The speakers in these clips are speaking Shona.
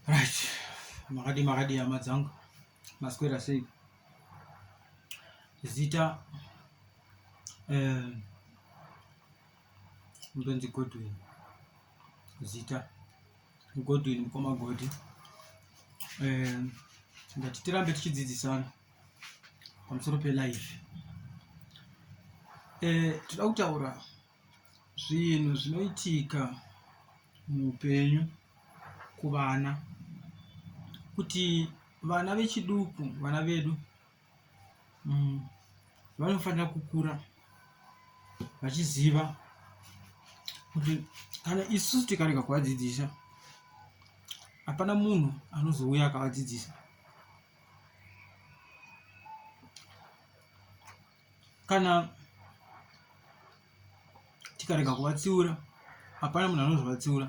right makadi makadi hama dzangu maswera sei zita eh, ndonzi godwin zita godwin mukoma godi eh, ndati tirambe tichidzidzisana pamusoro pelife eh, tinoda kutaura Zvinhu zvinoitika muupenyu kuvana kuti vana vechiduku vana vedu mm, vanofanira kukura vachiziva kuti kana isu tikarega kuvadzidzisa hapana munhu anozouya akavadzidzisa kana tikarega kuvatsiura hapana munhu anozovatsiura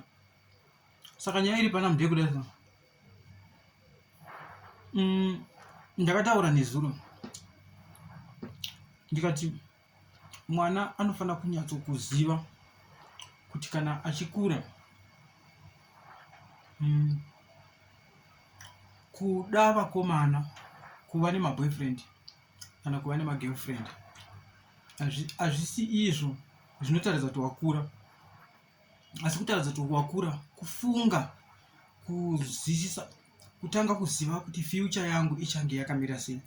saka nyaya iri pana mudhee kudai so mm, ndakataura nezuro ndikati mwana anofanira kunyatso kuziva kuti kana achikura mm, kuda vakomana kuva nemaboyfriend kana kuva nemagirlfriend hazvisi izvo zvinotaridza kuti wakura asi kutaridza kuti wakura kufunga kuzwisisa kutanga kuziva kuti future yangu ichange yakamira sei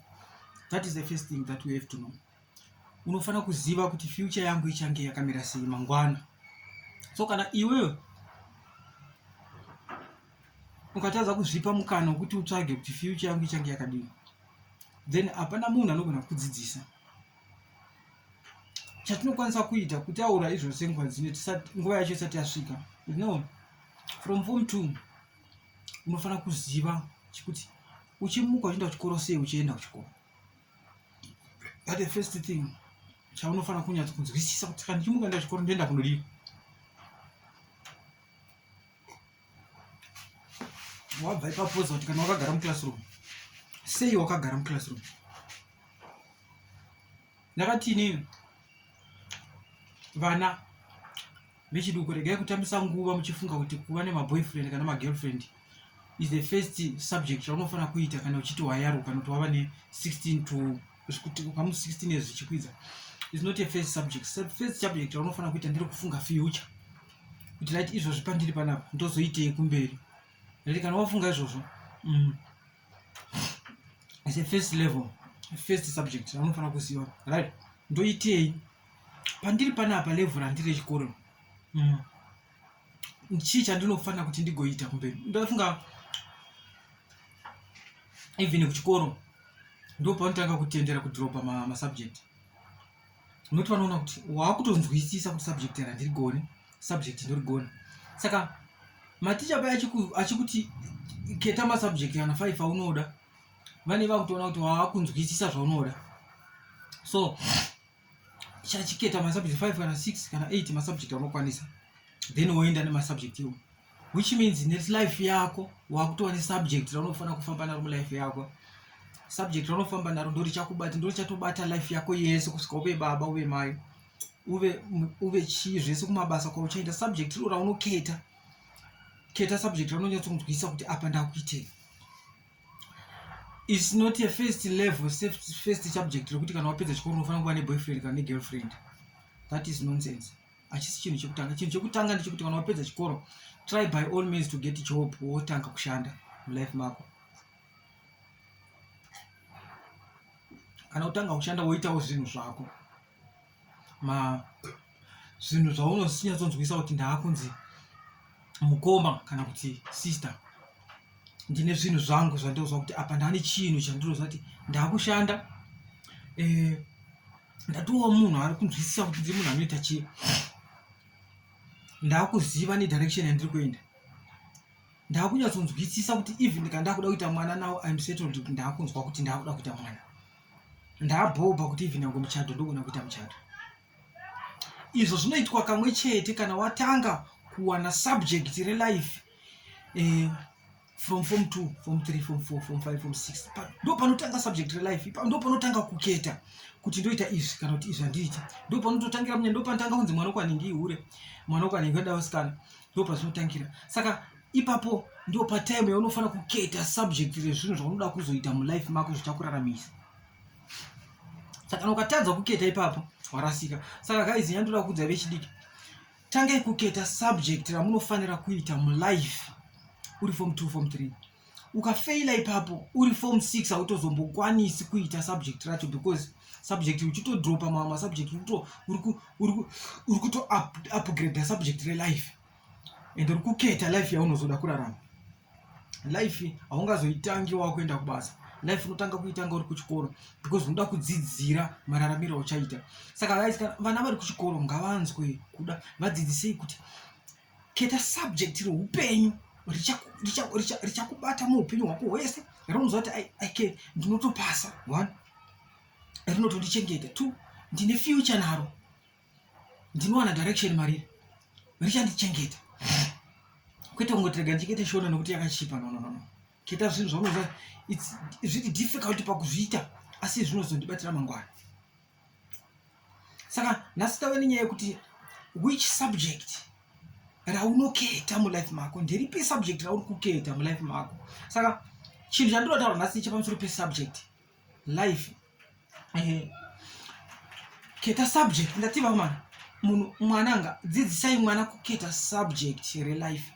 that is the first thing that we have to know unofanira kuziva kuti future yangu ichange yakamira sei mangwana so kana iwewe ukatadza kuzvipa mukana wekuti utsvage kuti future yangu ichange yakadini then hapana munhu anogona kudzidzisa chatinokwanisa kuita kutaura izvo senguva dzine nguva yacho isati yasvika you know from form two unofanira kuziva chekuti uchimuka uchienda kuchikoro sei uchienda kuchikoro that the first thing chaunofanira kunyatsa kunzwisisa kuti kana ndichimuka enda kuchikoro ndoenda kunodii wabva ipapoza kuti kana wakagara muclassroom sei wakagara muclassroom ndakati inini vana vechiduku regai kutambisa nguva muchifunga kuti kuva nemaboyfriend kana magirlfriend is the first subject chaunofanira kuita kana uchiti wayaruka kana kuti wava ne 16 to zvikuti pamu 16 years zvichikwidza is not a first subject first subject raunofanira kuita ndere kufunga future kuti rit izvozvi pandiri panapa ndozoitei kumberi rit kana wafunga izvozvo mm. is a first level first subject raunofanira kuziva right ndoitei pandiri panapa level randiri rechikoro mm. chii chandinofanira kuti ndigoita kumberi ndofunga even kuchikoro ndopaunotanga kutendera kudropa masubject unoti vanoona kuti waakutonzwisisa kuti subject randirigone subject ndorigona saka maticha paya achikuti keta masubject ana five aunoda vane vakutoona kuti waakunzwisisa zvaunoda so chachiketa masubject 5 kana 6 kana 8 masubject anokwanisa then woenda nemasubject iwo which means nelife yako wakutova nesubject raunofanira kufamba naro mulife yako subject raunofamba naro ndo richakubata ndo richatobata life yako yese kusvika uve baba uve mai uve uve chii zvese kumabasa kwauchaenda subject riro raunoketa keta subject raunonyatsokunzwisa kuti apa ndakuitei its not a first level first subject rekuti kana wapedza chikoro unofanira kuva neboyfriend kana negirlfriend that is nonsense hachisi chinhu chekutanga chinhu chekutanga ndechekuti kana wapedza chikoro try by all means to get job wotanga kushanda mulife mako kana utanga kushanda woitawo zvinhu zvako ma zvinhu zvaunosinyatsodzwisa kuti ndaakunzi mukoma kana kuti sister ndine zvinhu zvangu zvandinoziva kuti apa ndane chinhu chandinoziva kuti ndakushanda eh, ndatowa munhu ari kunzwisisa kuti ndiri munhu anoita chii ndakuziva nedirection yandiri kuenda ndakunyatsonzwisisa kuti even kana ndakuda kuita mwana now im settled ndakunzwa kuti ndakuda kuita mwana ndabhobha kuti even yangu muchato ndogona kuita muchato izvo zvinoitwa kamwe chete kana watanga kuwana subject relife eh, from form two form three form four form five form six ndo panotanga subject relife ndo panotanga kuketa kuti ndoita izvi kana kuti izvi handiiti ndo panototangira munya ndo panotanga kunzi mwana ukwanenge ihure mwana ukwanenge adawasikana ndo pazvinotangira saka ipapo ndipo patime yaunofanira kuketa subject rezvinhu zvaunoda kuzoita mulife mako zvichakuraramisa saka kana ukatadza kuketa ipapo warasika saka guys nyaya ndoda kuudza vechidiki tangai kuketa subject ramunofanira kuita mulife uri form 2 form 3 ukafeila ipapo uri form 6 hautozombokwanisi kuita subject racho because subject uchitodropa mamwe masubject uri kutoupgrade subject relife and uri kuketa life yaunozoda kurarama life haungazoitangi wakuenda kubasa life unotanga kuitanga uri kuchikoro because unoda kudzidzira mararamiro auchaita saka vaisika vana vari kuchikoro ngavanzwe kuda vadzidzisei kuti keta subject reupenyu richakubata muupenyu hwako hwese rinoziva kuti ike ndinotopasa one rinotondichengeta two ndine future naro ndinowana direction mariri richandichengeta kwete kungotirega ndichikete shona nokuti yakachipa no no no keta zvinhu zvaunoziva zviri difficult pakuzviita asi zvinozondibatira mangwana saka nhasi tave nenyaya yekuti which subject raunoketa mulife mako nderipi subject rauri kuketa mulife mako saka chinhu chandinotaura nhasi chepamusoro pesubject life eh, keta subject ndati vakomana munhu mwana anga dzidzisai mwana kuketa subject relife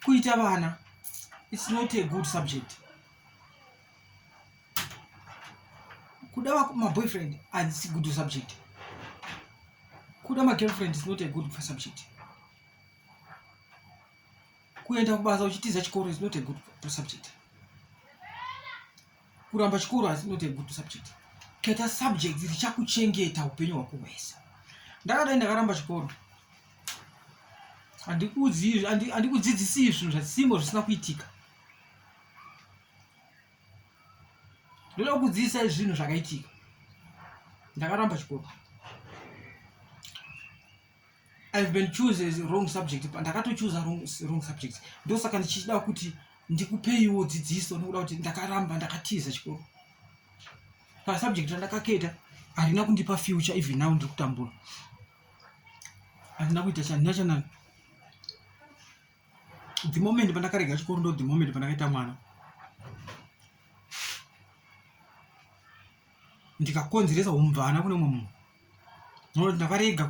kuita vana its not a good subject kuda wako maboyfriend asi good subject kuda magirlfriend is not a good subject kuenda kubasa uchitiza chikoro is not a good to subject kuramba chikoro is not a good to subject keta subject richakuchengeta upenyu hwako hwese ndakadai ndakaramba chikoro handikudzidzisii zvinhu zvasimbo zvisina kuitika ndoda kukudzidzisai zvinhu zvakaitika ndakaramba chikoro I've been chooses wrong subject ndakatochuza wrong, wrong subject ndosaka ndichida kuti ndikupeiwo dzidziso nokuda kuti ndakaramba ndakatiza chikoro pasubject randakaketa harina kundipa future even now ndiri kutambura handina kuita chandina chanani the moment pandakarega chikoro ndo the moment pandakaita mwana ndikakonzeresa humvana kune mumwe munhu nokuti ndakarega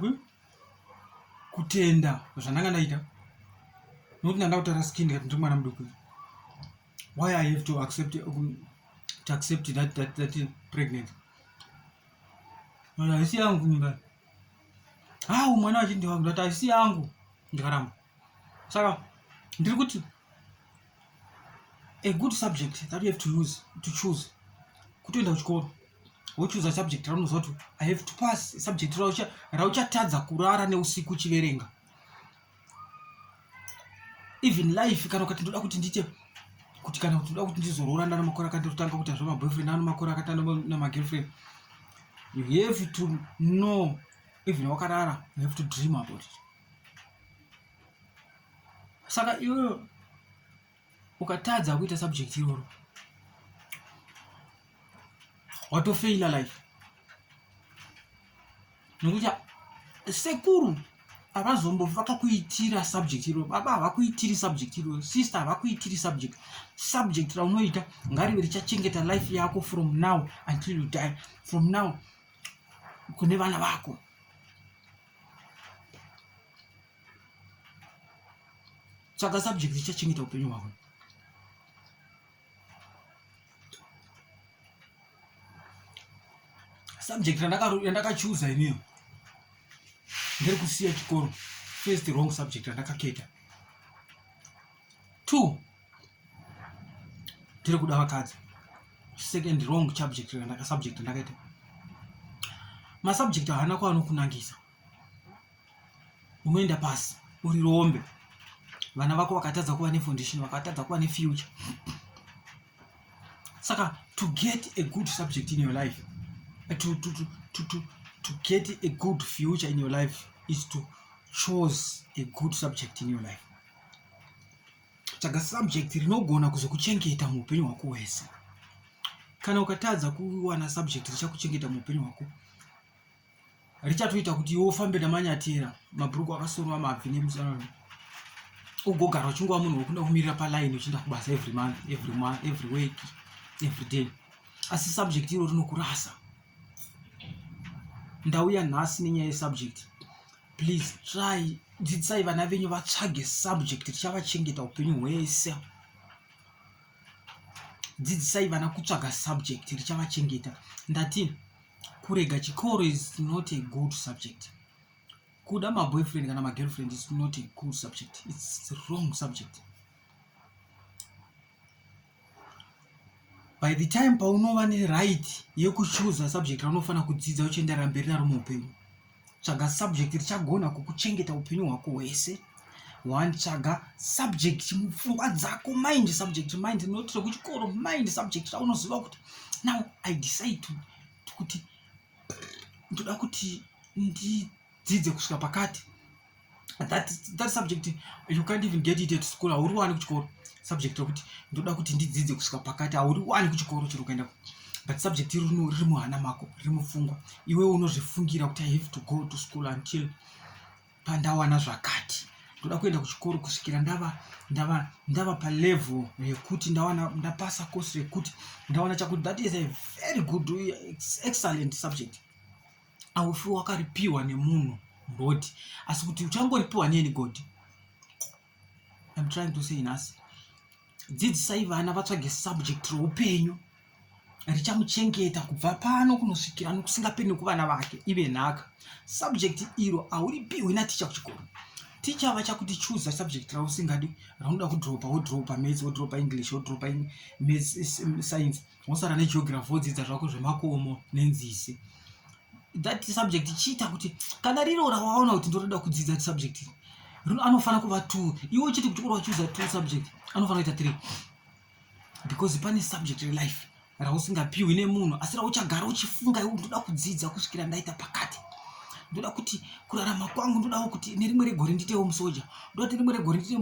kutenda zvandanga ndaita nokuti ndanga kutara skin ndikati ndiri mwana muduku why i have to accept, um, to accept that, that, that pregnant haisi yangu mimba hau mwana wachindi wangu ndati haisi yangu ndikaramba saka ndiri kuti a good subject that you have to use to choose kutoenda kuchikoro wochuza subject raunoziva kuti i have to pass subject rauchatadza kurara neusiku uchiverenga even life kana ukati ndoda kuti ndiite kuti kana kuti ndoda kuti ndizorora ndana makore akati ndotanga kuita zvemaboyfriend ano makore akati namagirlfriend you have to know even wakarara you have to dream about it saka iwe ukatadza kuita subject iroro watofeila life nokuti sekuru havazombo vakakuitira subject iro baba havakuitiri subject iro sister havakuitiri subject subject raunoita ngarive richachengeta life yako from now until you die from now kune vana vako tsvaga subject ichachengeta upenyu hwako subject yandakachuza iniyo ndiri kusiya chikoro first wrong subject yandakaketa two tiri kuda vakadzi second wrong subject randaka subject ndakaita masubject haana kwaanokunangisa unoenda pasi uri rombe vana vako vakatadza kuva nefoundation vakatadza kuva nefuture saka to get a good subject in your life eh, to, to, to, to, to, to get a good future in your life is to chose a good subject in your life tsvaga subject rinogona kuzokuchengeta muupenyu hwako hwese kana ukatadza kuwana subject richakuchengeta muupenyu hwako richatoita kuti iwe ufambe namanyatera mabhuruku akasorwa mabvi nemusana ugogara uchingova munhu wekuda kumirira paline uchienda kubasa every month every month every week every day asi subject iro rinokurasa ndauya nhasi nenyaya yesubject please try dzidzisai vana venyu vatsvage subject richavachengeta upenyu hwese dzidzisai vana kutsvaga subject richavachengeta ndati kurega chikoro is not a good subject kuda maboyfriend kana magirlfriend is not a good subject its wrong subject by the time paunova neright yekuchuza subject raunofanira kudzidza uchienderera mberi naro muupenyu tsvaga subject richagona kukuchengeta upenyu hwako hwese one tsvaga subject mupfungwa dzako mind subject mind not rekuchikoro mind subject raunoziva kuti now i decide kuti ndoda kuti ndidzidze kusvika pakati that, that subject you can't even get it at school hauri wani kuchikoro subject rokuti ndoda kuti ndidzidze kusvika pakati hauri wani kuchikoro chiri kuenda but subject iri riri muhana mako riri mupfungwa iwe unozvifungira kuti i have to go to school until pandawana zvakati ndoda kuenda kuchikoro kusvikira ndava ndava ndava palevel yekuti ndawana ndapasa course rekuti ndawana chakuti that is a very good excellent subject aufi wakaripiwa nemunhu muroad asi kuti uchangoripiwa neni god im trying to say nhasi dzidzisai vana vatsvage subject roupenyu richamuchengeta kubva pano kunosvikira nokusingapeni kuvana vake ive nhaka subject iro hauripiwi naticha kuchikoro ticha vachakuti chuza subject rausingadi raunoda kudropa wodropa mats wodropa english wodropa science wosara negeography wodzidza zvako zvemakomo nenzizi that subject chiita kuti kana riro rawaona kuti ndoroda kudzidza subject rino anofanira kuva two iwe uchiti kuti uri wachuza two subject anofanira kuita three because pane subject relife rausingapiwi nemunhu asi rauchagara uchifunga iwe ndoda kudzidza kusvikira ndaita pakati ndoda kuti kurarama kwangu ndodawo kuti nerimwe regore nditewo musoja ndoda kuti rimwe regore ndite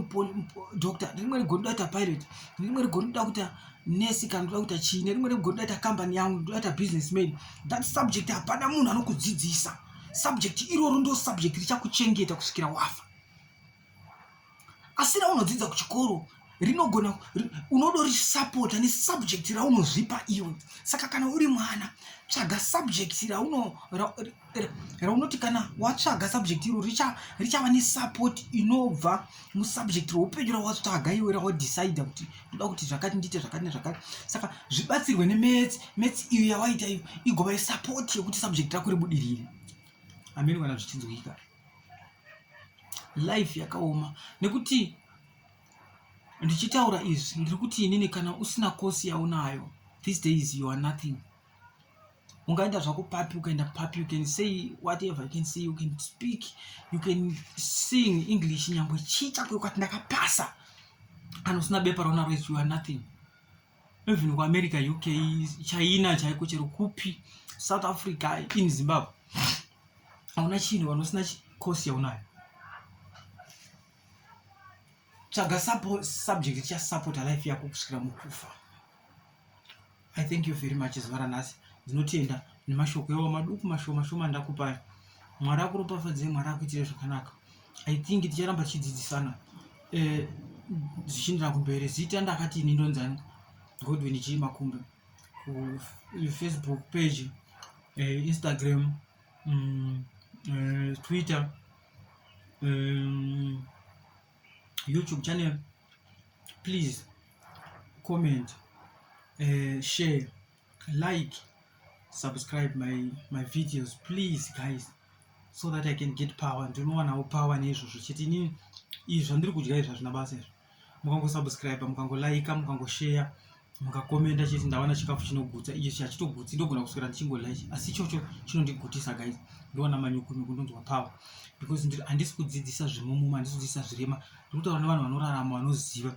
doctor nerimwe regore ndoda kuita pilot nerimwe regore ndoda kuita nesi kana ndoda kuita chii nerimwe remugo ndoda ita kambani yangu ndoda ita business man that subject hapana munhu anokudzidzisa subject iroro ndo subject richakuchengeta kusvikira wafa asi raunodzidza kuchikoro rinogona unodorisapota nesubject raunozvipa iwe saka kana uri mwana tsvaga subject rauno raunoti kana watsvaga subject iro richava richa nesupport inobva musubject roupenyu rawatsvaga iwe rawadecide kuti ndoda kuti zvakati ndiite zvakati nezvakati saka zvibatsirwe nemets mets iyo yawaita iyo igova yesupport yekuti subject rako ribudirire ameni kana zvichinzwika life yakaoma nekuti ndichitaura izvi ndiri kuti inini kana usina kosi yaunayo these days you are nothing ungaenda zvako papi ukaenda papi you can say whatever you can say you can speak you can sing english nyangwe chii chako ukati ndakapasa kana usina bepa raunaro is you are nothing even kuamerica uk china chaiko chero kupi south africa in zimbabwe hauna chinhu kana usina course yaunayo tsvaga subject chasupporta life yako kusvikira mukufa i thank you very much zuva ranhasi ndinotenda nemashoko yawo maduku mashoma shoma ndakupai mwari akuropafadzei mwari akuitire zvakanaka i think ticharamba tichidzidzisana eh, zvichiendera kumberi zita ndakati ini ndonzani godwin chii makumbe kufacebook page eh, instagram mm, eh, twitter um, youtube channel please comment uh, share like subscribe my, my videos please guys so that i can get power ndinowanawo power neizvozvo chete inini izvi zvandiri kudya izvi hazvina basa izvo mukangosubscribe mukangolaika mukangoshare mukakomenda chete ndawana chikafu chinogutsa icho chachitogutsi ndogona kuswera ndichingodla ichi asi ichocho chinondigutisa guys ndoona manyukunyuku ndonzwa power because ndiri handisi kudzidzisa zvemumuma handisi kudzidzisa zvirema ndiri kutaura nevanhu vanorarama vanoziva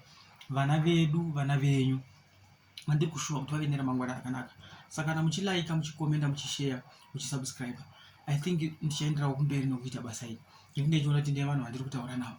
vana vedu vana venyu vandiri kushuva kuti vave neramangwana rakanaka saka kana muchilaika muchikomenda muchisheya muchisubscribe i think ndichaenderawo kumberi nokuita basa iri nekuti ndaichiona kuti ndiye vanhu vandiri kutaura navo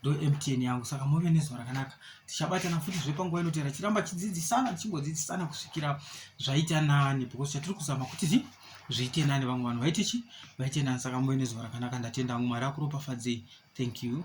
ndomtn yangu saka move nezuva rakanaka tichabatana futi zve panguva inotera chiramba chidzidzisana tichingodzidzisana kusvikira zvaita nani because chatiri kuzama kuti zi zviite nani vamwe vanhu vaite chi vaite nani saka move nezuva rakanaka ndatenda vamwe mwari akuropafadzei thank you